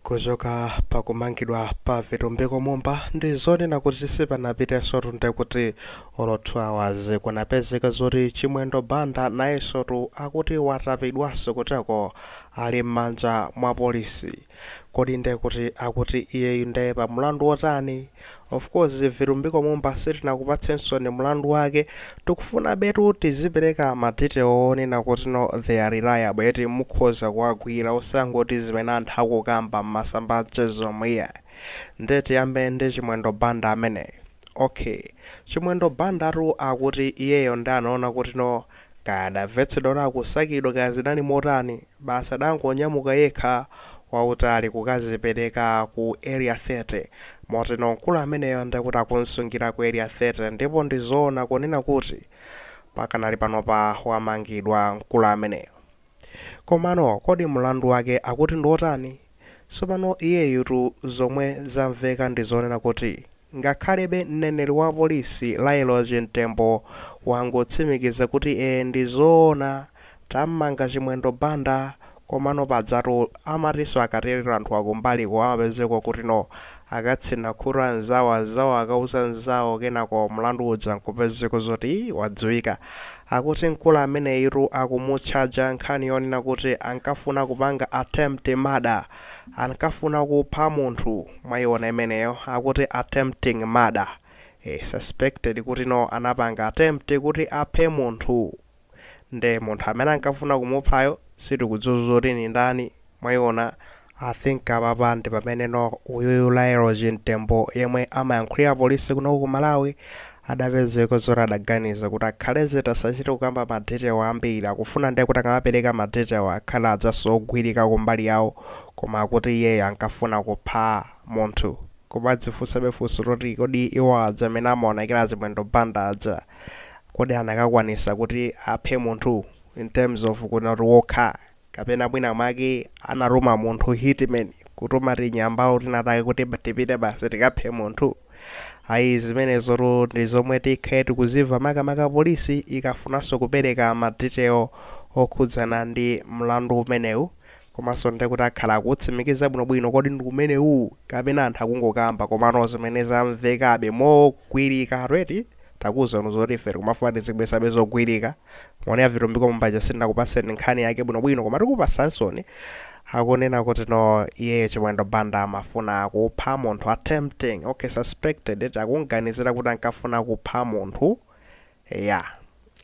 kuchoka pakumangidwa pa vitumbiko mumba ndi zonena kuti sipanapitenso tu ndekuti olo 2 hours kunapezeka zoti chimwendo banda nayenso tu akuti watapidwanso kuteko ali m'manja mwa polisi kodi nde kuti akuti iyeyu nde pa mlandu wotani Of course Vitumbiko Mumba sitinakupatsensoni mlandu wake, tikufunabetu tizipereka ma detail onena kuti no they are reliable eti mukhoza kuwagwira osangoti zimene anthu akukamba m'masamba a mchezomu iyayi. Nde tiyambe ndi Chimwendo Banda ameneyu. Ok. Chimwendo Bandatu akuti iyeyo nde anaona kuti no kaya adavetsedwa kuti akusakidwa kaya zinali motani, Basi adangonyamuka yekha wautali kukazipereka ku Area 30. Moti no mkulu ameneyo ndekuti akumsungira ku Area 30 ndipo ndi zoona kunena kuti pakanali panopa wamangidwa mkulu ameneyo. Komano kodi mlandu wake akuti ndi otani? Tsopano iyeyu tu zomwe zamveka ndi zonena kuti Ngakhalebe mneneri wa polisi Lael Chimtembo wangotsimikiza kuti ee ndi zoona tammanga Chimwendo Banda komano padzatu amatinso akatero anthu akumbaliko amapezeka kuti no akatsina khutu nzawo anzawo akauza nzawo kenako mlandu uja nkupezeka zoti wadziwika akuti mkulu ameneyitu akumutchaja nkhani yonena kuti ankafuna kupanga attempt murder Ankafuna kupha munthu mwaiona imeneyo akuti attempting murder ee suspected kuti no anapanga attempt kuti aphe munthu nde munthu amene ankafuna kumuphayo sitikudziwa zoti ndi ndani mwaiona I think apapa ndipamene no uyuyu Lael Chimtembo yemwe amayankhulira polisi kunoku ku Malawi adapezeka zoti adaganiza kuti akhale chete asachite kukamba ma detail ambiri akufuna nde kuti akamapereka ma detail akhale adzanso ogwirika kumbali yawo koma akuti iyeyo ankafuna kupha munthu kumadzifunsabe funso loti kodi iwo aja amene amaonekera achimwendo banda aja kodi anakakwanisa kuti aphe munthu in terms of kunoti wokha kapena mwina mwake anatuma munthu hitman kutuma tinyambawo tinatake kuti tipite basi tikaphe munthu ayi zimenezo tu ndi zomwe tikhale tikuziva makamaka polisi ikafunanso kupereka madetail okhudzana ndi mlandu umenewu komanso nde kuti akhala akutsimikiza bwinobwino kodi ndi umenewu kapena anthu akungokamba komano zimene zamvekabe mogwirika eti takuuzani zoti ife tikumafuna tizibweretsabe zogwirika mwaonera a Vitumbiko Mumba ja sindinakupaseni nkhani yake bwinobwino koma tikupasaninso ni akunena kuti no iyeyo Chimwendo Banda amafuna kupha munthu attempting okay suspected eti akumuganizira kuti ankafuna kupha munthu ya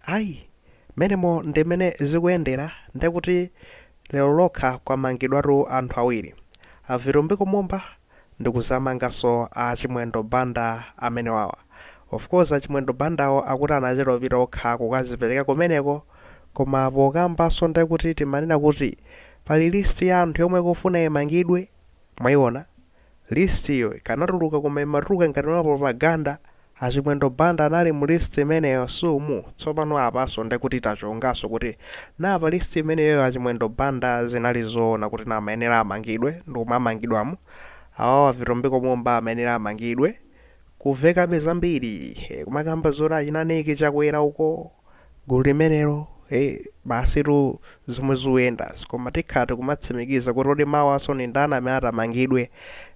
ayi menemo ndimene zikuyendera ndekuti lero lokha kwamangidwatu anthu awiri a Vitumbiko Mumba ndikuzamangaso a Chimwendo Banda amenewawa. of course a Chimwendo Bandawo akuti anachita kupita okha kukazipereka kumeneko koma pokambaso ndekuti timanena kuti pali list ya anthu yomwe ikufuna imangidwe mwaiona list yo ikanatuluka koma imatuluka ngati ma propaganda A Chimwendo Banda anali mu list imeneyo si umu, tsopano apanso nde kuti tachonganso kuti naa pa list imeneyoyo a Chimwendo Banda zinali zoona kuti naa amayenera amangidwe ndi omwe amangidwamo, awawa Vitumbiko Mumba amayenera amangidwe, kumvekabe zambiri, kumakamba zoti achina Nick Chakwera uko. gulu limenelo eh, basitu zomwe zikuyendazi koma tikhala tikumatsimikiza kuti kodi mawansonso ndani amene atamangidwe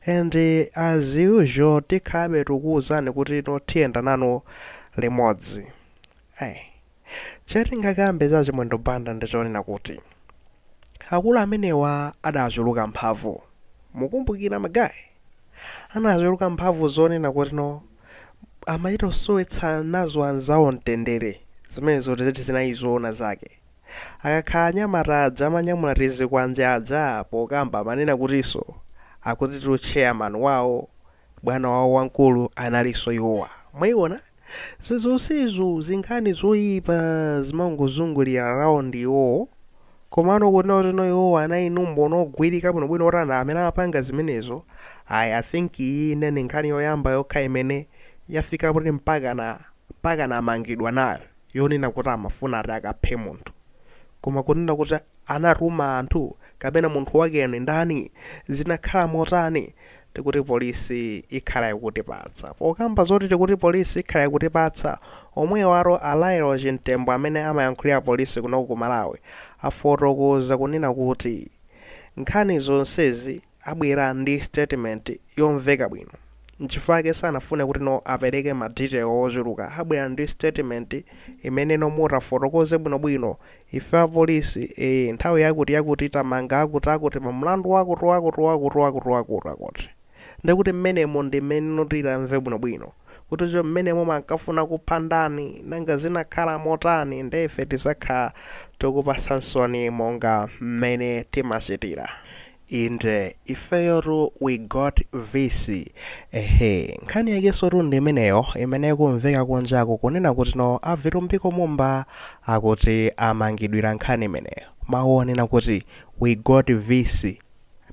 and eh, as usual tikhalabe tikuwuzani kuti no tiyenda nanu limodzi hey. chatingakambe cha a Chimwendo Banda ndichonena kuti akulu amenewa adachuluka mphamvu mukumbukira magayi anachuluka mphamvu zonena kuti no amachita kusowetsa nazo anzawo mtendere. Zimene zoti zinali zoona zake. Akakhala anyamata aja amanyamula tizikwanje aja pokamba amanena kutinso, akutitu chairman wawo, bwana wawo wamkulu analinso iwowa. Mwaiona? Zonsezo, zinkhani zoipa zimangozungulira around iwowo. Komano kunena kuti no iwowa anali ndi umboni ogwirika bwinobwino oti ndi amene amapanga zimenezo, ayi, I think iyi ine ndi nkhani yoyamba yokha imene yafika kuti mpakana, mpakana amangidwa nayo, yonena kuti amafuna ati akaphe munthu. Koma kunena kuti anatuma anthu kapena munthu wakeyo ndi ndani, zinakhala motani, tikuti police ikhala ikutipatsa. Pokamba zoti tikuti police ikhala ikutipatsa, omwewo a Lael Chimtembo amene amayankhulira police kunoko ku Malawi afotokoza kunena kuti nkhani zonsezi abwera ndi statement yomveka bwino nchifukwa chake sanafune kuti no apereke ma detail ochuluka abwera ndi statement imene mutafotokoze bwinobwino Ife apolisi ee nthawi yakuti yakuti tamanga akuti akuti pa mlandu wakuti wakuti wakuti wakuti wakuti akuti ndekuti mmenemo ndi mmeneno tizamve bwinobwino kuti cho mmenemo ankafuna kupha ndani nanga zinakhala motani ndiye ife tizakhala tikupasaninsoni monga mmene timachitira Inde ifeyotu we got vc ehe nkhani yakesotu ndi imeneyo imene ikumveka kunjaku kunena kuti no avitumbiko mumba akuti amangidwira nkhani imeneyo mawu onena kuti we got vc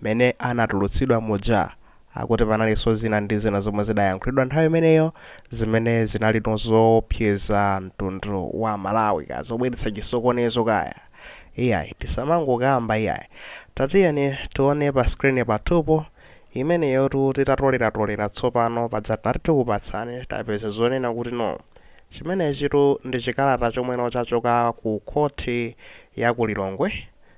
amene anatulutsidwa muja akuti panalinso zina ndi zina zomwe zidayankhulidwa nthawi imeneyo zimene zinalino zoopseza mtundu wa malawi kaya zobweretsa chisokonezo kaya Iyayi tisamangokamba iyayi. Tatiyeni tione pa screen pathupo. Imeneyotu titatoleratolela tsopano paja tinati tikupatsani tapeza zonena kuti no. Chimenechitu ndi chikalata chomweno chachoka ku khoti ya ku Lilongwe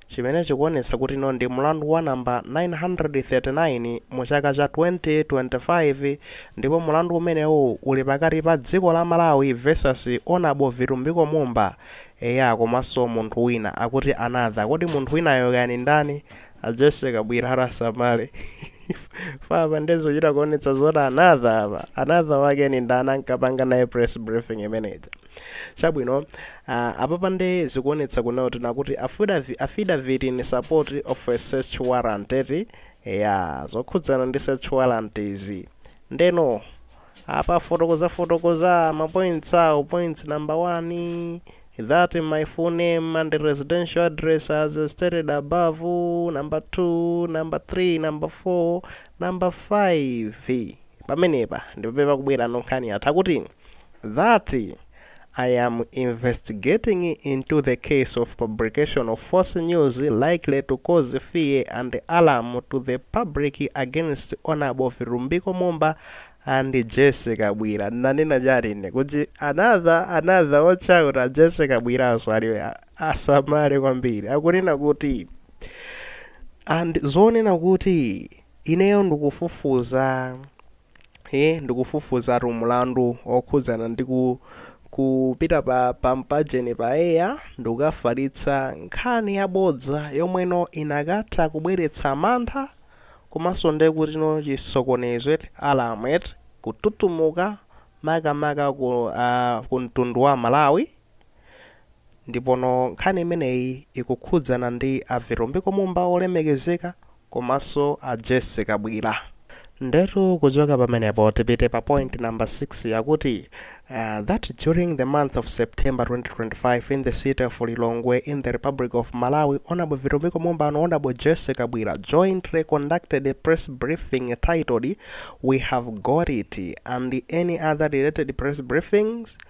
chimene chikuonetsa kuti no ndi mlandu wa number 939 mu chaka cha 2025 ndipo mlandu umenewu uli pakati pa dziko la Malawi versus Honourable Vitumbiko Mumba Eya komaso munthu wina akuti another kodi munthu winayo kaya ndi ndani? A Jesse Kabwira ati asamale chifukwa apa nde zikuchita kuonetsa zoti another apa another wake ndi ndani ankapanga naye press briefing imene ija chabwino uh, apapa nde zikuonetsa kunena kuti no akuti affidavi- affidavit in support of a search warrant eti eya zokhudzana ndi search warrant izi ndeno Apa afotokoza fotokoza ma points awo points number 1 that my full name and residential address as stated above number 2 number 3 number 4 number 5 pamenepa ndipamene pakubwera no nkhani ati akuti that I am investigating into the case of publication of false news likely to cause fear and alarm to the public against Honorable Vitumbiko Mumba and Jesse Kabwira. Nanena chani ine kuti another another watch out a Jesse Kabwiranso aliwe a- asamale kwambiri akunena kuti a zonena kuti ineyo ndikufufuza e Ndikufufuzatu mlandu wokhudzana ndi ku kupita pa pa mpajeni pa air ndikukafalitsa nkhani yabodza yomweno inakatha kubweretsa mantha komanso ndi kutino chisokonezo eti, alarm eti, kututumuka makamaka ku a kumtundu wa Malawi ndipono nkhani imeneyi ikukhudzana ndi a Vitumbiko Mumba olemekezeka komaso a Jessy kabwila ndetu kuchoka pamenepo tipite pa point number 6 yakuti that during the month of September 2025 in the city of Lilongwe in the Republic of Malawi Hon Vitumbiko Mumba and Hon Jessy Kabwila jointly conducted a press briefing titled we have got it and any other related press briefings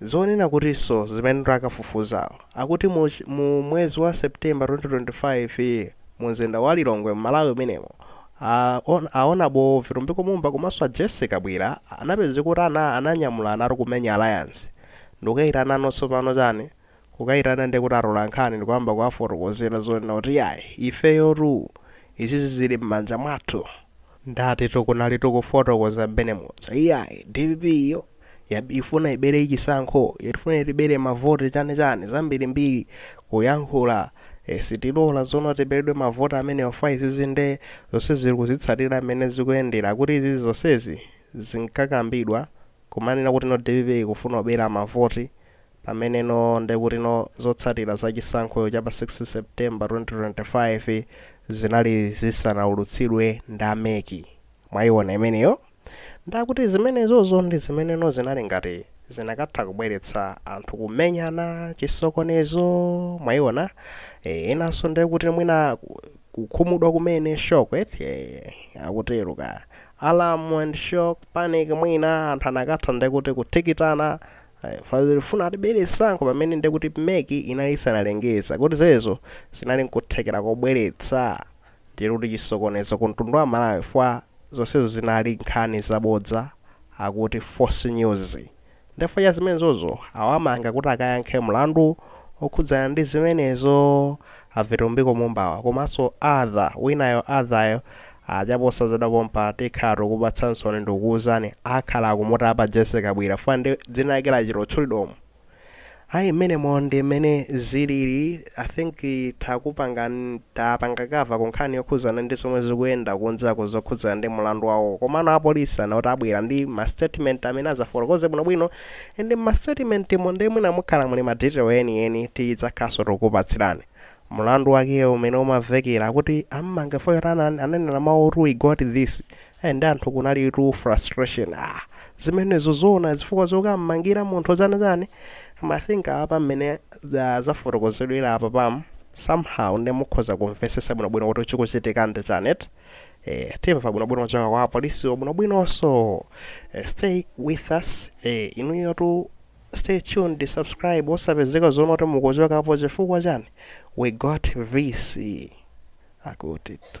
Zonena kutinso zimene akafufuza akuti mu mu mwezi wa September 2025 mu mzinda wa Lilongwe m'Malawi umenemu, a on a Honorable Vitumbiko Mumba komanso a Jesse Kabwira anapezeka kuti ana ananyamulana ati kumenya Alliance. Ndikukayitana no tsopano chani? Kukaitana ndiye kuti atola nkhani n'kuyamba kuwafotokozera zonena kuti iyayi, ifeyotu izizi zili mmanja mwathu. Ndatitu kunalitu kufotokoza mmene muja. Iyayi, dpp yo ifuna ibere chisankho, ikufuna itibere mavoti chani chani, zambirimbiri, kuyankhula, eh, sitilola zoona tiberedwe mavoti amenewa fwa izizi nde zonsezi tikuzitsatira mmene zikuyendera. Akuti izizi zonsezi zinkakambidwa kumanena kuti no dpp ikufuna kubera mavoti. pamene no ndekuti no zotsatira za chisankho cha pa 16 September 2025 zinali zisanaulutsidwe ndi a mec. Mwaiona imeneyo? Nde akuti zimenezozo ndi zimene no zinali ngati zikanatha kubweretsa anthu kumenyana, chisokonezo, mwaiona? Eh, enanso ndekuti mwina kukhumudwa kumene, shock eti, eh, akutero kaya. Alarm and shock, panic mwina anthu akanatha ndekuti kutikitana, Fadhili ufuna atibere chisankho pamene ndekuti mec inali isanalengeze kuti zezo zinali nkuthekera kobweretsa ndi kuti chisokonezo ku mtundu wa Malawi chifukwa zonsezo zinali nkhani zabodza akuti false news nde chifukwa cha zimenezozo awamanga kuti akayankhe mlandu okhudzana ndi zimenezo a Vitumbiko Mumba-wa komanso other winayo adhayo A chaposa zathera pompa tikhala tikukupatsansoni ndikukuuzani akhala akumutapa Jessie Kabwila chifukwa ndi dzina lake lachita kutchulidwa umu ayi mmenemo ndi mmene zilili I think takupangan tapanga cover ku nkhani yokhuzana ndi zomwe zikuyenda kunjako zokhudzana ndi mulandu wawowo komano a police anati abwera ndi ma statement amene azafotokoze bwino bwino and mma statement mo nde mwina mukhala muli ma detail eni eni tidzakhalanso tikukupatsirani Mulandu wakewo umene umavekera kuti ammanga fo yotana ananena mawu oti we got this eh ndi anthu kunali tu frustration ah zimenezo zoona zifukwa zokammangira munthu zani zani koma I think apa mmene zafotokozedwera apa pam somehow nde mukhoza kumvetsetsa bwinobwino kuti chikuchitika ndi chani eti eh timva bwinobwino kuchoka kwa apolisiwo bwinobwinonso eh, stay with us eh inuyo tu Stay tuned subscribe osapezeka zoona oti mukuchokapo chifukwa chani we got vc akutitu.